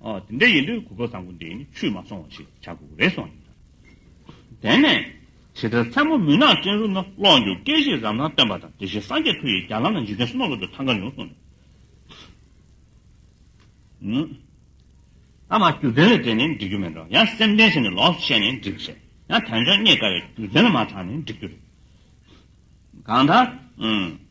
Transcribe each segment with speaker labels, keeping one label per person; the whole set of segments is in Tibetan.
Speaker 1: དེ་འདྲ་ཡིན་དུས་གུས་པ་བཟང་པོ་འདི་ནི་ཆུད་མ་སོང་བ་ཞིག་བྱ་དགོས་རེ་སོང་ཡིན་ལགས། དེ་ནས་ཇི་ལྟར་མཚན་མོ་མུན་ནག་སྤྲིན་རུམ་ན་གློག་འགྱུ་སྐད་བཞིན་རང་སྣང་སྟོན་པ་དང་དེ་བཞིན་སངས་རྒྱས་མཐུ་ཡིས་རྒྱ་ལམ་ན་འཇིག་རྟེན་སྣོད་བློ་གྲོས་ཐང་ཀར་ཡོངས་བཟུང་ནས། ཨ་མ་རྒྱུ་མཚན་ལ་བརྟེན་ནས་འགྲིག་རྒྱུ་མེད་འགྲོ་ཡང་སེམས་ལྡན་ཞིག་ནས་ལོགས་སུ་ཤེས་ནས་འགྲིག་ཤེས་ཡང་དོན་ཆུང་རྙེད་དཀའ་བས་རྒྱུ་མཚན་ལ་མ་དྲངས་ནས་འགྲིག་རྒྱུ་རེད། གང་ལྟར།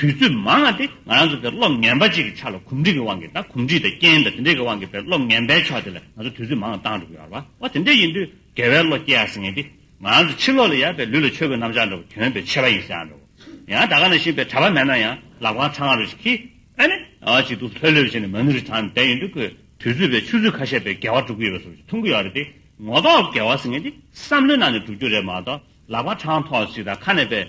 Speaker 1: དུས་ཚོད་མང་ང་སྟེ་ང་རང་ཚོ་དེར་གློག་ངན་པ་ཅིག་གི་ཆ་ལ་གོམས་འདྲིས་ཀྱི་དབང་གིས་དང་གོམས་འདྲིས་དང་རྐྱེན་དང་དེ་འདྲའི་གི་དབང་གིས་བས་གློག་ངན་པའི་ཕྱོགས་དེ་ལ་ང་ཚོ་དུས་ཚོད་མང་ང་བཏང་འགྲོ་གི་ཡོད་རེད་བ་དེ་འདྲས་ཡིན་དུས་དགེ་བའི་བློ་སྐྱེ་ཡག་ཟེར་ངེས་ཏེ་ང་རང་ཚོ་ཕྱི་ལོག་ལ་ཡ་བས་ལུས་ལ་ཆོས་གོས་གནམ་ལྕགས་འདྲ་བོ་གྱོན་བས་ཆེ་བ་ཡིན་ཟེར་ཡང་འགྲོ་གི་ཡང་ད་ག་ན་བཞིན་བས་གྲ་བ་མེད་ན་ཡང་ལག་པའང་ཚ་ང་རུ་ཞིག་གིས་ཨ་ནི་ཨ་ཅིག་འདུག་ལྷོད་ལྷོད་བྱས་ནས་མ་ནུ་རི་ཐང་ནས་བསྡད་ཡོད་འདུག་གི་དུས་ཚོད་བས་ཆུ་ཚོད་ཁ་ཤས་བས་དགེ་བ་འགྲུབ་གི་ཡོད་པ་སོགས་ཀྱི་མཐོང་གི་ཡོད་རེད་དེ་ངོ་ལྡོག་དགེ་བ་ཟེར་ངེས་ཏེ་བསམ་བློའི་ནང་ནས་འགྲུབ་རྒྱུ་རེད་མ་གཏོགས་ལག་པ་གྲང་ཐོག་ཅིག་དང་ཁ་ནས་བས།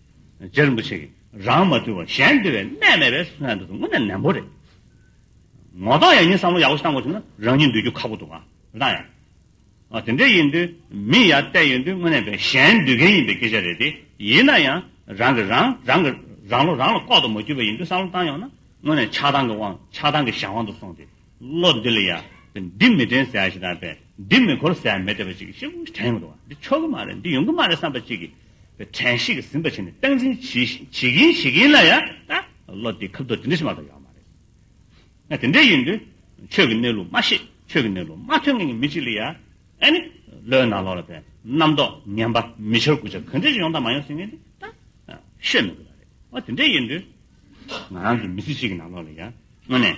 Speaker 1: རྗེ་རིན་པོ་ཆེ་གིས་རང་མ་དུལ་བར་གཞན་དུལ་བའི་གནས་མེད་པས་སུ་ལྷན་དུ་དངོས་གནས་ནན་པོ་རེད། ངོ་གདོང་ཡང་ཉིན་བསམ་བློ་ཡག་པོ་ཞིག་བཏང་དགོས་བྱུང་ན་རང་ཉིད་འདུལ་རྒྱུ་ཁག་པོ་འདུག་ཨང་བདག་ཡང། ཨ་དེ་འདྲས་ཡིན་དུས་མི་ཡར་བལྟས་ཡོད་དུས་དངོས་གནས་བས་གཞན་འདུལ་མཁན་ཡིན་པའི་སྐད་ཆ་རེད་དེ་ཡིན་ན་ཡང་རང་གིས་རང་རང་གི་རང་བློ་རང་ལ་ལྐོག་ཏུ་མ་གྱུར་པ་ཡིན་དུས་བསམ་བློ་བཏང་ཡོང་ན་དངོས་གནས་ཆགས་སྡང་གི་དབང་ཆགས་སྡང་གི་གཞན་དབང་དུ་སོང་སྟེ་བློ་འདི་ལ་ཡ་དེ་འདི་མི་དྲན་ཟེར་བ་ཞིག་དང་བས་འདི་མི་འཁོར་ཟེར་བ་མི་བདེ་བ་ཅིག་ཤི་བོ་ཞིག་དྲན་ཡོང་དུ་བ་འདི་ཆོག་གི་མ་རེད་འདི་ཡོང་གི་མ་རེད་བསམ་པ་ཅིག་གིས་དྲན་ཤེས་ཀྱི་ཟིན་པ་བྱས་ནས་སྟངས་འཛིན་བྱེད་བཞིན་བྱེད་ཀྱིན་བྱེད་ཀྱིན་ལ་ཡང་ད་བློ་དེ་ཁ་བརྡོ་དེ་འདྲ་ཞིག་མ་གཏོགས་ཡོད་མ་རེད། ཡང་དེ་འདྲ་ཡིན་དུས་ཆོས་ཀྱི་གནས་ལུགས་མ་ཤེས་ཆོས་ཀྱི་གནས་ལུགས་མ་ཐོས་མཁན་གྱི་མི་ཅིག་ལ་ཡང་ཨ་ནི་བློའི་ནང་ལོགས་ལ་དེ་རྣམ་རྟོག་ངན་པ་མི་འཆར་དགོས་ཆ་གང་འདྲ་ཞིག་ཡོང་དང་མ་ཡོང་ཟེར་མཁན་དེ་ད་ཤོད་མི་དགོས་པ་རེད། འོ་དེ་འདྲ་ཡིན་དུས་ང་རང་གི་མི་ཚེ་གཅིག་གི་ནང་ལོགས་ལ་ཡང་དངོས་ནས་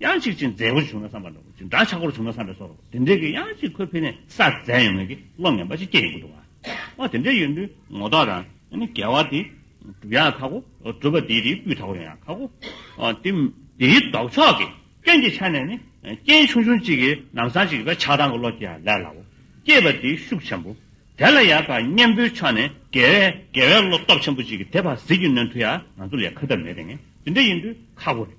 Speaker 1: གཡང་གཅིག་ཅིང་མཛེས་པོར་བྱུང་ན་བསམ་པར་འགྲོ་ཅིང་འདྲ་ཆགས་པོར་བྱུང་ན་བསམ་པས་སོ། དེ་འདྲའི་གི་གཡང་གཅིག་ཁོས་ཕུལ་ནས་ས་བཙལ་ཡོང་མོད་ཀྱི་བློ་ངན་པ་ཞིག་སྐྱེ་ཡོང་གི་འདུག་ཨ། དེ་འདྲའི་ཡོན་ཏུའི་ངོ་ཐོག་དང་ནི་རྒྱལ་བ་དེ། གྲུབ་ཡང་ཁག་གོ། གྲུབ་པ་དེའི་རིགས་སྤུས་དག་པོ་ཡོང་ཡང་ཁག་གོ། དེ། དེའི་ལྡོག་ཕྱོགས་ཀྱི་རྐྱེན་གྱི་ཆ་ནས་ནི། རྐྱེན་ཆུང་ཆུང་གཅིག་གིས་ནམ་སང་གཅིག་གི་བས་ཆགས་སྡང་གི་བློ་སྐྱེ་ཡང་ལས་སླའོ། སྐྱེས་པ་དེའི་ཤུགས་ཆེན་པོ། དེ་ལ་ཡང་དག་གཉེན་པོའི་ཕྱོགས་ནས་དགེ་བས་དགེ་བའི་བློ་སྟོབས་ཆེན་པོ་གཅིག་གིས་དེ་བར་ཟིལ་གྱིས་གནོན་ཐུབ་ཡང་ང་ཚོ་ལས་ཁ་ཐབས་མེད་དེ་ངས་དེ་འདྲའི་ཡོན་ཏུའི་ཁག་པོ་རེད།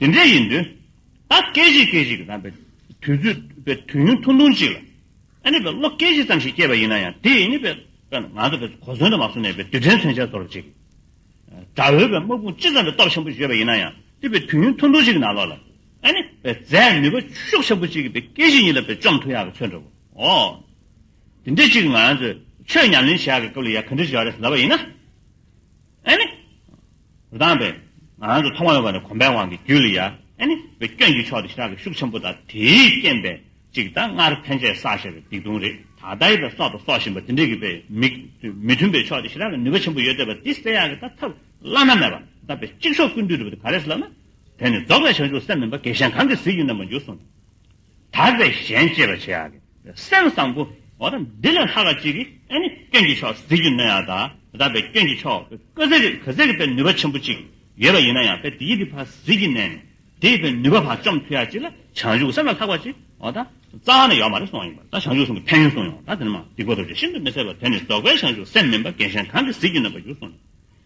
Speaker 1: དེ་འདྲ་ཡིན་དུས། ད་སྐད་གཞི་སྐད་གཞི་གི་དམ་པའི་དུས་ཚོད་དཔེ་དུས་ཡུན་ཐུང་ཐུང་ཅིག་ལ། ཨ་ནི་བས་ལོ་སྐད་གཞི་ཙམ་ཞིག་སྐྱེས་པ་ཡིན་ན་ཡང་དེ་ནི་བས་ང་ཚོ་བས་གོ་སོན་དུ་མ་སོང་ནས་བས་དུས་དྲན་མཚོན་ཆ་ཚོར་བ་ཅིག་གིས། དགྲ་བོས་བས་དམག་དཔུང་ཅི་ཙམ་བས་སྟོབས་ཆེན་པོ་བཞེས་པ་ཡིན་ན་ཡང་དེ་བས་དུས་ཡུན་ཐུང་ཐུང་ཞིག་གི་ནང་ལོགས་ལ། ཨ་ནི་བས་རྫས་ནུས་པ་ཤོག་ཆེན་པོ་ཅིག་གིས་བས་སྐད་གཞི་གཉིས་ལ་བས་བཅོམ་ཐུབ་ཡག་གི་མཚོན་འགྲོ་བ་འོ། དེ་འདྲ་ཅིག་ང་ཚོས་ཆོས་ཉམས་ལེན་བྱེད་ཡག་གི་སྐབས་ལ་ཡ་ག་འདྲ་བྱེད་ཡག་རེད་ཟེར་བ་ཡིན་ན། ཨེ་ནི། རུ་དང་བས། ང་རང་ཚོ་མཐོང་བ་ཡོང་བ་ནི་གོམ་པའི་དབང་གི་རྒྱུད་ལ་ཡ། ཨེ་ནི། བའི་སྐྱོན་གྱི་ཕྱོགས་དེ་ཞི་དྲག་གི་ཤུགས་ཆེན་པོ་དང་དེའི་རྐྱེན་པས་ཅིག་ད་སྔར་ཕན་ཆད་བསགས་བཞག་གི་སྡིག་ལྟུང་རེ་ད་ལྟ་ཡི་དང་སྲོག་དང་སྲོག་བཞིན་པ་དེ་འདྲས་ཀྱི་བས་མི། མི་མཐུན་པའི་ཕྱོགས་དེ་ཞི་དྲག་གི་ནུས་པ་ཆེན་པོ་ཡོད་བསྡད་པ་དེ་སེལ་ཡག་གི་ད་ཐབས་བླ་ན་མེད་པ་ད་བས་གཅིག་ཤོག་ཀུན་འདུས་སྒྲུབ་པ་དེ་ག་རེ་ཟེར་ལབ་ན། དེ་ནི་རྫོགས་པའི་བྱང་ཆུབ་སེམས་མིན་པ་དགེ་ཞེན་གང་གིས་གཟིགས་ཡུལ་རྣམས་པ་འགྱུར་གསུངས། དག་པའི་གཞན་གཅེས་པར་བྱེད་ཀྱི། སེམས་བཟང་པོ། འདི་ལས་ལྷག་པ་ཅི་གི། སྐྱོན་གྱི་ཕྱོགས་གཟིགས་རྒྱུ་མེད་ཡང། དག་པའི་སྐྱོན་གྱི་ཕྱོགས་གཟིགས་རྒྱུ་པའི་ནུས་པ་ཆེན་པོ་ཅིག་ཡོད་པ་ཡིན་ན་ཡང། དེ་ཡི་རིགས་འཕགས་གཟིགས་ཀྱི་གནས་ནས། དེ་ཡི་པའི་ནུས་པ་བར་བཅོམ་མཐུ་ཡག་ཅིག་ལ། བྱང་ཆུབ་སེམས་ལ་ལྷག་པ་ཅིག། རྩ་བ་ནས་ཡོད་མ་རེད་གསུངས་ཡིན་པ། བྱང་ཆུབ་སེམས་ཀྱི་ཕན་ཡོན་གསུངས་ཡོང། དེ་ནི་མ་ཏི་གོ་ཐོབ་ཅིག་ཤིན་ཏུ་མི་གསལ་བ་དེ་ནི་རྫོགས་པའི་བྱང་ཆུབ་སེམས་མིན་པ་རྒན་གཞན་གང་གིས་གཟིགས་རྒྱུ་ན་པ་རྒྱུ་གསུངས་ཡོད།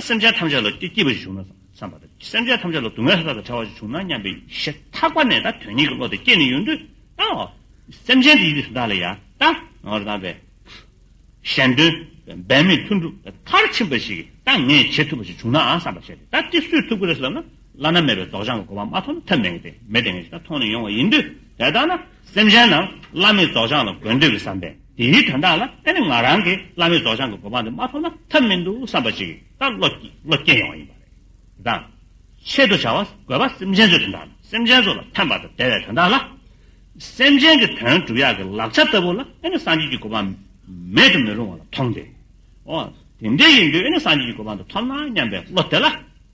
Speaker 1: སེམས་ཅན་ཐམས་ཅད་ལ་སྐྱིད་པ་ཞིག་བྱུང་ན་བསམ་པ་དང་སེམས་ཅན་ཐམས་ཅད་ལ་སྡུག་བསྔལ་ཧ་ལ་ག་བྲལ་བ་ཞིག་བྱུང་ན་སྙམ་པའི་ཡེ་ཐག་པ་ནས་ད་དོན་ཉིད་ཀྱི་བློ་དེ་སྐྱེས་ནས་ཡོད་འདུག་ཨཱ། སེམས་ཅན་དེ་ཡིད་བདག་ལ་ཡང་དག་ངོ་རང་བས་གཞན་དོན་འབད་མེད་ལྷུན་གྲུབ་མཐར་ཕྱིན་པ་ཞིག་གིས་ད་ངས་བྱེད་ཐུབ་པ་ཞིག་བྱུང་ནའང་བསམ་པར་བྱས་ཏེ་ད་ཅི་སུས་ཐུབ་ཀྱི་རེད་ཟེར་ལབ་ན་བླ་ན་མེད་པའི་རྫོགས་བྱང་གི་གོ་བ་མ་མཐོང་ན་ཐབས་མེད་ངེས་ཅན་ཐོག་ནས་ཡོང་བ་ཡིན་དུས་དེ་ལྟ་ན། སེམས་ཅན་རྣམས་བླ་མེད་རྫོགས་བྱང་ལ་དགོས་འདོད་ཀྱི་བསམ་པས་དེའི་དོན་དག་ལ་ཨེ་ནི་ང་རང་གིས་བླ་མེད་རྫོགས་བྱང་གི་གོ་འཕང་འདི་མ་ཐོབ་ན་ཐབས་མི་འདུག་བསམ་པ་ཅིག་ལྟར་བློ་སྐྱེས་ཡོང་བ་ཡིན་པ་རེད། དེ་དང། ཆེད་དུ་བྱ་བ་དགོས་པ་སེམས་ཅན་ཚོའི་དོན་དག་དང་སེམས་ཅན་ཚོ་ལ་ཕན་པ་དང་བདེ་བའི་དོན་དག་ལ། སེམས་ཅན་གྱི་དོན་སྒྲུབ་ཡག་གི་ལག་ཆ་ལྟ་བུ་ལ་ཨེ་ནི་སངས་རྒྱས་ཀྱི་གོ་འཕང་མེད་དུ་མི་རུང་བ་ལ་མཐོང་སྟེ། འོ། དེ་འདྲ་ཡིན་དུས་ཨེ་ནི་སངས་རྒྱས་ཀྱི་གོ་འཕང་འདི་ཐོབ་ན་སྙམ་པའི་བློ་དེ་ལ།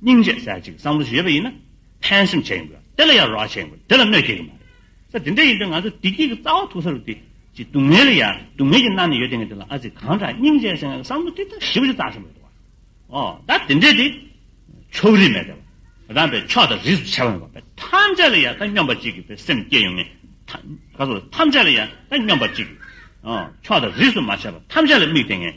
Speaker 1: སྙིང་རྗེ་གསལ་ཅིག་བསམ་བློ་ཞེས་པ་ཡིན་ན་ཕན་སེམས་བྱེད་ཡིན་དགོས་དེ་ལ་ཡང་རོགས་བྱེད་ཡིན་དགོས་དེ་ལ་གནོད་བྱེད་ཀྱི་མ་རེད་ས་དེ་འདྲ་ཡིན་དུས་ང་ཚོ་བདེ་སྐྱིད་ཀྱི་རྩ་བ་ཐུག་ས་རུ་དེ་ཅི་སྡུག་བསྔལ་ལ་ཡ་སྡུག་བསྔལ་གྱི་སྣ་ནས་ཡོད་དེ་ངས་དེ་ལ་ཨ་ཙི་གང་དྲག་སྙིང་རྗེ་གསལ་བསམ་བློ་ཏིག་ཏག་ཞིབ་ཅིག་བཏང་ཞིག་མི་འདུག་བ་ཨོ་ད་དེ་འདྲས་དེ། ཕྱོགས་རིས་མེད་དེ། རང་པའི་ཕྱོགས་དང་རིས་སུ་ཆེ་བ་ཡོང་བ་དཔེ་ཐམས་ཅད་ལ་ཡ་ད་སྙོམས་པ་གཅིག་གི་དཔེ་སེམས་བསྐྱེད་ཡོང་ངེས་ཐམས་ཅད་ལ་ཡ་ད་སྙོམས་པ་གཅིག་གི་ཕྱོགས་དང་རིས་སུ་མ་ཆེ་བ་ཐམས་ཅད་ལ་དམིགས་དེ་ངས།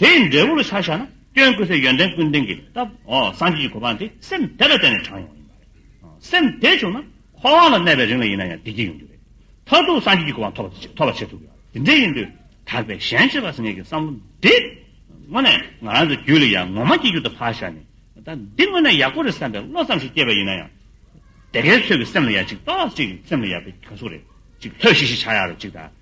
Speaker 1: དེ་ཡི་འབྲས་བུར་ཆ་བཞག་ན་སྐྱོན་ཀུན་སེལ་ཡོན་ཏན་ཀུན་ལྡན་གྱི་སྟབས་འོག་སངས་རྒྱས་ཀྱི་གོ་འཕང་དེ་སེམས་དེ་ལ་བརྟེན་ནས་དྲངས་ཡོང་ཡིན་པ་རེད། སེམས་དེ་བྱུང་ན་འཁོར་བ་ལ་གནས་པའི་རིང་ལ་ཡིན་ན་ཡང་བདེ་སྐྱིད་ཡོང་རྒྱུ་རེད། མཐར་ཐུག་སངས་རྒྱས་ཀྱི་གོ་འཕང་ཐོབ་པ་བྱེད་ཐུབ་ཡོང། དེ་འདྲས་ཡིན་དུས་དག་པའི་གཞན་གཅེས་པ་སངས་རྒྱས་ཀྱི་བསམ་བློ་འདི། དངོས་གནས་ང་རང་ཚོའི་རྒྱུད་ལ་ཡང་ངོ་མ་སྐྱེས་རྒྱུད་དུ་ཕར་བཞག་ནས་ད་འདི་དངོས་གནས་ཡག་པོ་རེད་བསམ་པའི་བློ་ཙམ་ཞིག་སྐྱེས་པ་ཡིན་ན་ཡང། དེ་གའི་ཚོད་ཀྱི་སེམས་ལ་ཡང་ཅིག་ལྟོས་ལགས་ཅིག་གི་སེམས་ལ་ཡག་པའི་གྱོན་གཟུགས་རེ་ཅིག་ལྷོད་ཤིག་ཤིག་ཆགས་ཡག་རེ་ཅིག་དང།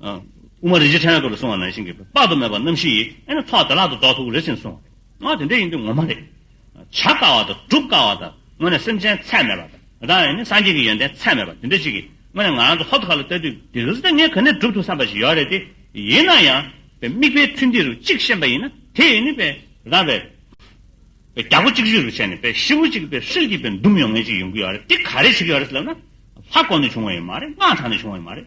Speaker 1: དབུ་མ་རིན་ཆེན་ཕྲེང་བའི་སྐོར་ལ་གསུང་བ་ན་ཤིང་གི་དཔག་ཏུ་མེད་པ་རྣམ་བཞི་ཡིས་ཨེ་ནི་ཐོག་བདེ་བླག་ཏུ་རྫོགས་ཐུག་རེ་ཟིན་གསུང་བ་རེད། དེ་འདྲ་ཡིན་དུས་ངོ་མ་རེད། བྱ་དཀའ་བ་དང་སྒྲུབ་དཀའ་བ་དང་དངོས་གནས་སེམས་ཅན་ཚད་མེད་པ་དང་དེ་དག་ཡང་ནི་སངས་རྒྱས་ཀྱི་ཡོན་ཏན་ཚད་མེད་པ་དེ་འདྲ་ཞིག་གིས་དངོས་གནས་ང་རང་ཚོ་ཧོར་ཁ་ལ་བལྟ་དུས་དེ་རིང་སྲིད་ན་ངས་ག་ནས་སྒྲུབ་ཐུག་བསམ་པ་ཞིག་ཡོད་རེད་དེ། ཡིན་ན་ཡང། བའི་དམིགས་པའི་མཐུས་འདི་རུ་གཅིག་ཤེས་པ་ཡིན་ན་དེ་ཡིས་ནི། བའི་རང། བའི་རྒྱལ་པོ་གཅིག་བཞི་རུ་བྱས་ནས་བའི་ཤི་བོ་གཅིག་བའི་ཧྲིལ་གྱིས་བའི་འདུམ་ཡོང་མཁན་ཅིག་ཡོང་གི་ཡོད་རེད་དེ་ག་རེ་བྱེད་ཀྱི་ཡོད་རེད་ཟེར་ན། ལྷ་བསྐོར་ནས་བྱུང་བ་ཡིན་མ་རེད་སྔགས་བགྲང་ནས་བྱུང་བ་ཡིན་མ་རེད།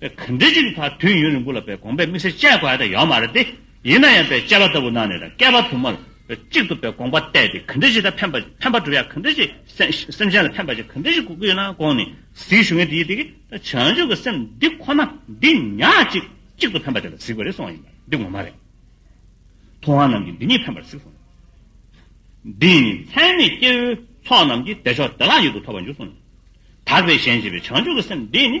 Speaker 1: གང་འདྲི་གཅིག་གི་ཐག་དུས་ཡུན་རིང་པོ་ལ་པའི་དགོངས་པའི་དམིགས་བསལ་དཔྱད་དགོས་ཡ་ད་ཡོད་མ་རེད་དེ། ཡིན་ན་ཡང་པའི་དཔྱད་པ་ལྟ་བུ་གནང་ནས་དང་བསྐལ་པ་དུ་མ་ལ་པའི་གཅིག་ཏུ་པའི་དགོངས་པ་གཏད་དེ་གང་འདྲི་གཅིག་ད་ཕན་པ་ཕན་པ་གྲུབ་ཡ་གང་འདྲི་གཅིག་སེམས་སེམས་ཅན་ལ་ཕན་པ་ཅིག་གང་འདྲི་གཅིག་དགོས་ཀྱི་ཡོད་ན་དགོངས་ནས་གཟིགས་ཞུ་ངེས་དེ་ཡིན་དེ་གིས་ད་བྱང་ཆུབ་ཀྱི་སེམས་འདི་ཁོ་ན་འདི་ཉག་གཅིག་གཅིག་ཏུ་ཕན་པ་དེ་ལ་གཟིགས་པ་རེད་གསུངས་བ་ཡིན་པ་འདི་ངོ་མ་རེད། ཐུབ་དབང་རྣམས་ཀྱིས་འདི་ཉིད་ཕན་པར་གཟིགས་གསུངས། འདི་ཡིན་ནི་ཚད་མེད་སྐྱེ་བོའི་ཚོགས་རྣམས་ཀྱིས་བདེ་མཆོག་བདེ་བླག་ཡུལ་དུ་ཐོབ་པར་འགྱུར་གསུངས་ནས། དག་པའི་གཞན་བྱེད་པའི་བྱང་ཆུབ་ཀྱི་སེམས་འདི་ཡིན་ནི།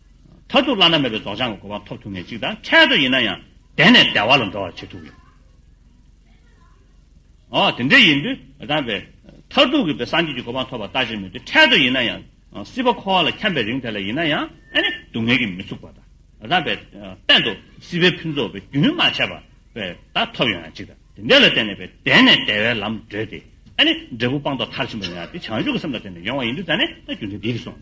Speaker 1: མཐར་ཐུག་བླ་ན་མེད་པའི་རྫོགས་བྱང་གི་གོ་འཕང་ཐོབ་ཐུབ་ངེས་གཅིག་དང་འཕྲལ་དུ་ཡིན་ན་ཡང་དད་ནས་བདེ་བ་ལ་འགྲོ་བར་བྱེད་ཐུབ་ཡོད། འོ་དེ་འདྲ་ཡིན་དུས་དམ་པས། མཐར་ཐུག་གི་བའི་སངས་རྒྱས་ཀྱི་གོ་འཕང་ཐོབ་པར་ལྟ་བྱེད་མོད་དུས་འཕྲལ་དུ་ཡིན་ན་ཡང་སྲིད་པ་འཁོར་བ་ལ་འཁྱམས་པའི་རིང་དེ་ལ་ཡིན་ན་ཡང་ཨ་ནི་སྡུག་བསྔལ་གྱིས་མི་ཚུགས་པ་དང། དམ་པས། གཏན་དུ་སྲིད་པའི་ཕུན་ཚོགས་པའི་རྒྱུན་མ་ཆད་པ་བས་ད་ཐོབ་ཡོང་ཡང་གཅིག་དང་དེ་འདྲས་ལ་བརྟེན་ནས་བས་དད་ནས་བདེ་བའི་ལམ་བགྲོད་དེ་ཨ་ནི་འབྲས་བུ་སྤངས་རྟོགས་མཐར་ཕྱིན་པ་ཡིན་ཡང་དེ་བྱང་ཆུབ་ཀྱི་སེམས་ལ་བརྟེན་ནས་ཡོང་བ་ཡིན་དུས་ད་ནི་ད་རྒྱུ་མཚན་འདིས་སོང།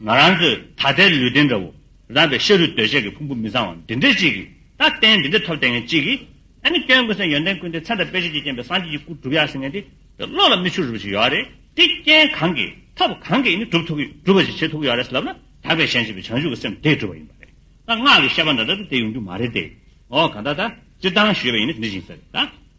Speaker 1: ང་རང་ཚོས་ད་ལྟའི་ལུས་རྟེན་འདྲ་བོ་བཟང་བའི་ཤ་རུས་གདོས་བཅས་ཀྱི་ཕུང་པོ་མི་བཟང་བ་འདི་འདྲ་གཅིག་གིས་ད་ལྟའི་འདི་འདྲ་ཐོབ་བསྡད་མཁན་གཅིག་གིས་ཨ་ནི་སྐྱོན་ཀུན་སེལ་ཡོན་ཏན་ཀུན་ལྡན་ཚེ་དང་དཔལ་ཆེ་བརྒྱས་བརྒྱན་པའི་སངས་རྒྱས་ཀྱི་སྐུར་གྲུབ་ཡག་ཟེར་མཁན་དེ་དེ་བློ་ལ་མི་ཆུག་རུལ་བ་ཞིག་ཡོད་རེད་དེ་རྐྱེན་གང་གིས་ཐབས་གང་གིས་ཨ་ནི་གྲུབ་ཐུབ་ཀྱི་གྲུབ་པ་ཞིག་བྱེད་ཐུབ་ཀྱི་ཡོད་རེད་ཟེར་ལབ་ན་དག་པའི་ཞལ་མཆེ་བའི་བྱང་ཆུབ་ཀྱི་སེམས་དེས་གྲུབ་པ་ཡིན་པ་རེད་ད་སྔགས་ཀྱི་བཤད་པ་འདྲ་འདྲ་དེ་དེ་ཡོང་རྒྱུ་མ་རེད་དེ་འོ་གང་ལྟར་ད་སྤྱིར་བཏང་ཞུས་པ་ཡིན་ན་དེ་འདྲ་ཞིག་ཟེར་རེད་ད།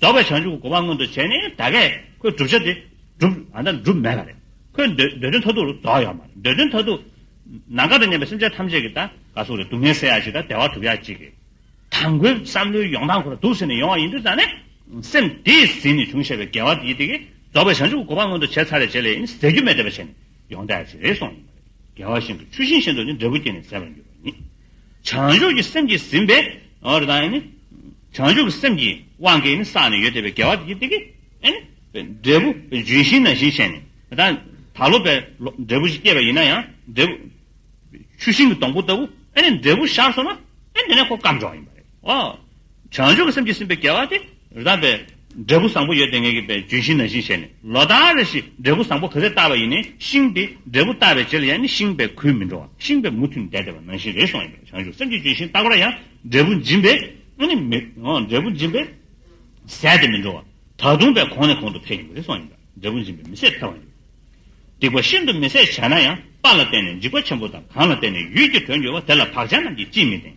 Speaker 1: རྫོགས་པའི་བྱང་ཆུབ་ཀྱི་གོ་འཕང་མངོན་དུ་བྱས་ནས་ད་གས་ཁོའི་བསྒྲུབ་བྱ་དེ་འགྲུབ། ད་འགྲུབ་མེད་པ་རེད། ཁོའི་འདོད་འདོད་དོན་མཐའ་ཐུག་རུ་རྫོགས་ཡོད་མ་རེད། འདོད་དོན་མཐའ་ཐུག། ན་འགག་པའི་ཉེན་པའི་སེམས་ཅན་ཐམས་ཅད་ཀྱི་ད་ག་སོགས་རེད་སྡུག་བསྔལ་སེལ་ཡག་ཅིག་དང་བདེ་བ་གྲུབ་ཡག་ཅིག་གི། ད་མགོའི་བསམ་བློའི་ཡོང་སྟངས་ཁོ་ལ་སྡུག་ཟེར་ནས་ཡོང་བ་ཡིན་དུས་ད་ནས་སེམས་དེས་ཟིན་ནས་བྱུང་ཞེས་པའི་འགལ་བ་དེ་ཡིད་དེ་གས་རྫོགས་པའི་བྱང་ཆུབ་ཀྱི་གོ་འཕང་མངོན་དུ་བྱས་ཚར་རེ་བྱས་ལས་ཡིན་ཟེར་རྒྱུ་མེད་འདོད་པ་བྱས་ནས་ཡོང་ད་ཡག་ཅིག་རེད་སོང་ཡོད་མ་རེད། འགལ་བ་ཤིན་ཏུ་ཆུ་ཤིང་བཞིན་དུ་ནི་འབྲས་བུ་སྐྱེས་ནས་ཟད་པར་འགྱུར་བ་ཡིན། བྱང་ཆུབ་ཀྱི་སེམས་ཀྱིས་ཟིན་པས། བྱང་ཆུབ་ཀྱི་སེམས་ཀྱི་དབང་གིས་ནི་བསགས་ནས་ཡོད་དེ་བས་དགེ་བ་དེ་སྐད་ཅིག། འབྲས་བུ་ལྗོན་ཤིང་ནང་བཞིན་བྱས་ནས། ད་ལོ་བས་འབྲས་བུ་ཞིག་སྐྱེས་པ་ཡིན་ན་ཡང། འབྲས་བུ་ཆུ་ཤིང་གི་སྡོང་པོ་ལྟ་བུ། འབྲས་བུ་ཤར་སོང་ན། དེ་ནས་ཁོ་སྐམ་འགྲོ་བ་ཡིན་པ་རེད། བྱང་ཆུབ་ཀྱི་སེམས་ཀྱིས་ཟིན་པའི་དགེ་བ་དེ། རགས་པའི་འབྲས་བུ་བཟང་པོ་ཡོད་དེ་ངེས་ཀྱི་པའི་ལྗོན་ཤིང་ན་བཞིན་བྱས་ནས་ལོ་ཟླ་རེ་ཞིག་འབྲས་བུ་བཟང་པོ་ག་ཚད་བཏགས་པ་ཡིན་ནའི་ཤིང་དེ་འབྲས་བུ་བཏགས་པའི་རྗེས་ལ་ཡང་ནི་ཤིང་བས་གུས་མི་འགྲོ་བ་ཤིང་བས་མུ་མཐུད་འདས་ཏེ་བ་ནང་བཞིན་རེ་ཟུང་ཡིན་པས་བྱང་ཆུབ་སེམས་ཀྱི་ལྗོན་ཤིང་བཏགས་པ་ལ་ཡང་འབྲས་བུ་འབྱིན་པས་ཡང་ནི་མི་འབྲས་བུ་འབྱིན་པས་ཟད་དེ་མི་འགྲོ་བ་ད་དུང་བས་གོང་ནས་གོང་དུ་འཕེལ་ཡིན་པས་རེ་ཟུང་ཡིན་པས་འབྲས་བུ་འབྱིན་པས་མི་ཟད་འཕེལ་བ་ཡིན། སྡིག་པ་ཤིན་ཏུ་མི་བཟད་བྱས་ན་ཡང་པ་ལ་བརྟེན་ནས་འཇིགས་པ་ཆེན་པོ་དང་གང་ལ་བརྟེན་ནས་ཡུལ་གྱི་དོན་འགྱུར་བ་དེ་ལ་བག་ཆགས་རྣམས་ཀྱིས་ཅིས་མི་བརྟེན།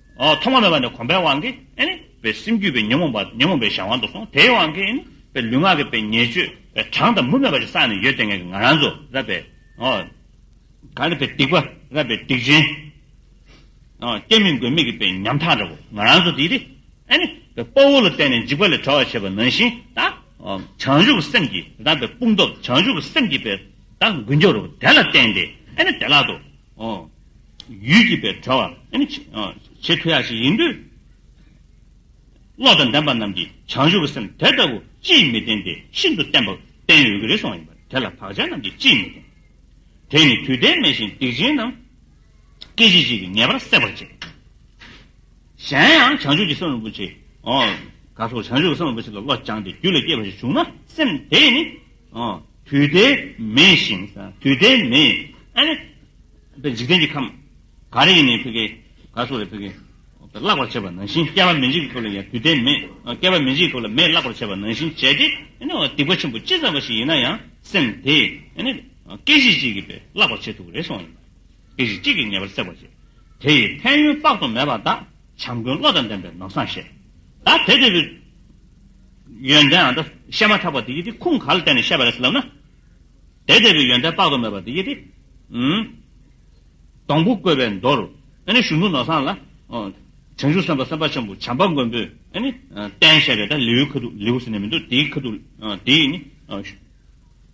Speaker 1: ཐོག་མ་མེད་པ་ནས་གོམས་པའི་དབང་གིས། པའི་སེམས་རྒྱུད་པའི་ཉོན་མོངས་པ་ཉོན་མོངས་པའི་གཞན་དབང་དུ་སོང་དེའི་དབང་གིས། པའི་ལུས་ངག་གི་པའི་ཉེས་སྤྱོད་པའི་གྲངས་དང་མུ་མེད་པ་ཞིག་བསགས་ནས་ཡོད་དེ་ངས་ཀྱི་ང་རང་ཚོ་རབ་པའི། གང་རིགས་པའི་སྡིག་པ་རབ་པའི་སྡིག་ཅན། སྐྱེ་མི་དགོས་མིག་གི་པའི་ཉམ་ཐག་འདྲ་བོ་ང་རང་ཚོ་དེ་རི། པའི་དཔའ་བོ་ལ་བརྟེན་ནས་འཇིགས་པ་ལས་གྲོལ་བར་བྱེད་པ་ནང་བཞིན་ད། བྱང་ཆུབ་སེམས་ཀྱི་རབ་པའི་དཔུང་སྟོབས་བྱང་ཆུབ་སེམས་ཀྱི་པའི་ད་འགུལ་མགྱོགས་རུ་དེ་ལ་བརྟེན་ཏེ། དེ་ལག་ཏུ། ཡུལ་གྱིས་པའི་བྲལ་བ། ཆེས་མཐོ་ཡ་ཞིག་ཡིན་དུས། བློ་དང་ལྡན་པ་རྣམས་ཀྱིས་བྱང་ཆུབ་ཀྱི་སེམས་དེ་ལྟ་བུ་ཅིས་མི་བསྟེན་ཏེ་ཤིན་ཏུ་བསྟེན་པ་བསྟེན་ཡོད་ཀྱི་རེ་ཟུང་བ་ཡིན་པ་དེ་ལ་བག་ཆགས་རྣམས་ཀྱིས་ཅིས་མི་བསྟེན། དེས་ནི་དུས་མཐའི་མེད་བཞིན་སྡིག་ཅན་རྣམས། སྐད་ཅིག་གཅིག་གིས་ངེས་པར་བསྲེག་པར་བྱེད། གཞན་ཡང་བྱང་ཆུབ་ཀྱི་སེམས་རིན་པོ་ཆེ། ག་སོགས་བྱང་ཆུབ་ཀྱི་སེམས་རིན་པོ་ཆེ་ལ་བློ་སྦྱངས་ཏེ་རྒྱུད་ལ་སྐྱེས་པ་ཞིག་བྱུང་ན་སེམས་དེས་ནི་དུས་དེ་མེད་བཞིན། དུས་དེ་མེད། འཇིག་རྟེན་གྱི་ཁམས། ག་རེ་ཡིན་ནའི་ཕི་གེ། ག་སོགས་ལས་ཕི་གེ། བརླག་པར་བྱེད་པ་ནང་བཞིན་བསྐལ་པ་མི་འཇིག་གི་སྐབས་ལ་ཡང་དུས་དེ་མེད། བསྐལ་པ་མི་འཇིག་གི་སྐབས་ལ་མེད་བརླག་པར་བྱེད་པ་ནང་བཞིན་བྱས་ཏེ། སྡིག་པ་ཆེན་པོ་ཅི་ཙམ་པ་ཞིག་ཡིན་ན་ཡང་སེམས་དེས། སྐད་ཅིག་གཅིག་གིས་བརླག་པར་བྱེད་ཐུབ་ཀྱི་རེད་གསུངས་པ་ཡིན། པའི་རིགས་གཅིག་གིས་ངེས་པར་བསྲེག་པར་བྱེད། དེ་ཡི་ཕན་ཡོན་དཔག་ཏུ་མེད་པ་དག། བྱམས་མགོན་བློ་དང་ལྡན་པའི་ནོར་བཟང་ཞེས། བདག་དེ་དེ་བས་ཡོན་ཏན་འམ། བཤད་མ་ཐག་པ་འདི་ཡི་དེ་ཁུངས་ག་ལ་བསྟན་ནས་བཤད་པ་རེད་ལབ་ན། དེ་དེ་བས་ཡོན་ཏན་དཔག་ཏུ་མེད་པ་འདི་ཡི་དེ། སྡོང་བུ་བཀོད་པའི་མདོར། གཞུང་ལུགས་ནོར་བཟང་ལ། བྱང་ཆུབ་སེམས་དཔའ་སེམས་དཔའ་ཆེན་པོ་བྱམས་པ་མགོན་པོས། བསྟན་བཤད་པའི་ལེའུའི་ཁ་ཐུག་ལེའུ་ཟེར་ནས་མི་འདུག་དེའི་ཁ་ཐུག་དེ་ཡིས་ནི།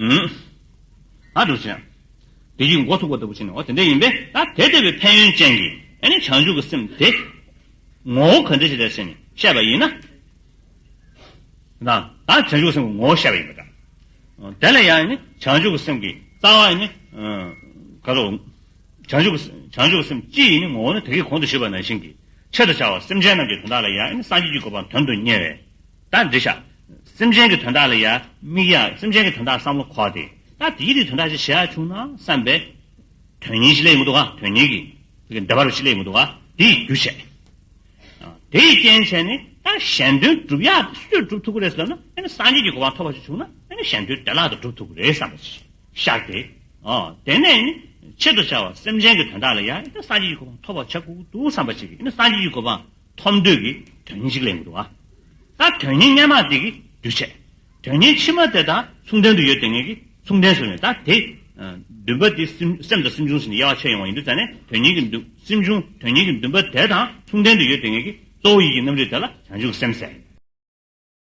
Speaker 1: ད་འགྲོ་བྱེད། དེ་ཡིས་མགོ་ཐུག་པ་ལྟ་བུ་བྱས་ནའོ། དེ་འདྲ་ཡིན་པས་ད་དེ་ལྟ་བུའི་ཕན་ཡོན་ཅན་གྱི་བྱང་ཆུབ་ཀྱི་སེམས་དེ་ངོ་བོ་ག་འདྲ་ཞིག་ལགས་ཞེས་ནི་བཤད་པ་ཡིན་ན། ད་བྱང་ཆུབ་ཀྱི་སེམས་ཀྱི་ངོ་བོ་བཤད་པ་ཡིན་པ་འདྲ། དེ་ལ་ཡང་ནི་བྱང་ཆུབ་ཀྱི་སེམས་ཀྱི་རྩ་བ་ནི་ག་རེའོ། བྱང་ཆུབ་ཀྱི་སེམས་སྤྱི་ཡི་ནི་ངོ་བོ་ནི་དེ་སྐད་གོང་དུ་ཞུས་པ་ནང་བཞིན་གྱི། ཆེད་དུ་བྱ་བ་སེམས་ཅན་རྣམས་ཀྱི་དོན་དག་ལ་ཡང་སངས་རྒྱས་ཀྱི་གོ་འཕང་དོན་དུ་གཉེར་བས་ད་འདྲི་བྱ། སེམས་ཅན་གྱི་དོན་དག་ལ་ཡང་དམིགས་ཡང་སེམས་ཅན་གྱི་དོན་དག་བསམ་བློ་འཁོར་ཏེ་ད་དེའི་རིགས་དོན་དག་ཅིག་བྱེད་ཨ་བྱུང་ན་བསམས་པས། དོན་གཉིས་ཅི་ལས་མི་འདུག་ག་དོན་གཉིས་ཀྱི་འདི་བར་ཅི་ལས་མི་འདུག་ག་དེ་ཡི་རྒྱུ་བྱས། དེ་ཡི་རྐྱེན་བྱས་ནས་ད་གཞན་དོན་བསྒྲུབ་ཡག་སུས་བསྒྲུབ་ཐུབ་ཀྱི་རེད་བསམས་ན་སངས་རྒྱས་ཀྱི་གོ་འཕང་ཐོབ་པ་ཞིག་བྱུང་ན་གཞན་དོན་བདེ་བླག་ཏུ་བསྒྲུབ་ཐུབ་ཀྱི་རེད་བསམས་པ་ཞིག། བཤགས་ཏེ། དེ་ནས་ནི་ཆེད་དུ་བྱ་བ་སེམས་ཅན་གྱི་དོན་དག་ལ་ཡང་ནི་སངས་རྒྱས་ཀྱི་གོ་འཕང་ཐོབ་པར་བྱ། ཀུན་ཏུ་བསམ་པར་བྱེད་ཀྱི་ནི་སངས་རྒྱས་ཀྱི་གོ་འཕང་ཐོབ་འདོད་ཀྱི་དོན་ཉིད་གཅིག་ལས་མི་འདུ་བ་དང། དོན་ཉིད་སྙན་མང་དེ་གི་འདུས་བྱས་དོན་ཉིད་ཕྱི་མ་དེ་དང་མཚུངས་ལྡན་དུ་ཡོད་དེ་ངེས་ཀྱི་མཚུངས་ལྡན་སུ་ཡིན་ད་དེ། འདུན་པ་དེ་སེམས་དང་སེམས་བྱུང་ཟིན་ནས་དབྱེ་བ་ཕྱེ་ཡོང་བ་ཡིན་དུས་ད་ནི་དོན་ཉིད་ཀྱི་འདུན་སེམས་བྱུང་དོན་ཉིད་ཀྱི་འདུན་པ་དེ་དང་མཚུངས་ལྡན་དུ་ཡོད་དེ་ངེས་ཀྱི་གཙོ་བོ་ཡིད་ཀྱི་རྣམ་རིག་དེ་ལ་བྱང་ཆུབ་སེམས་གསལ།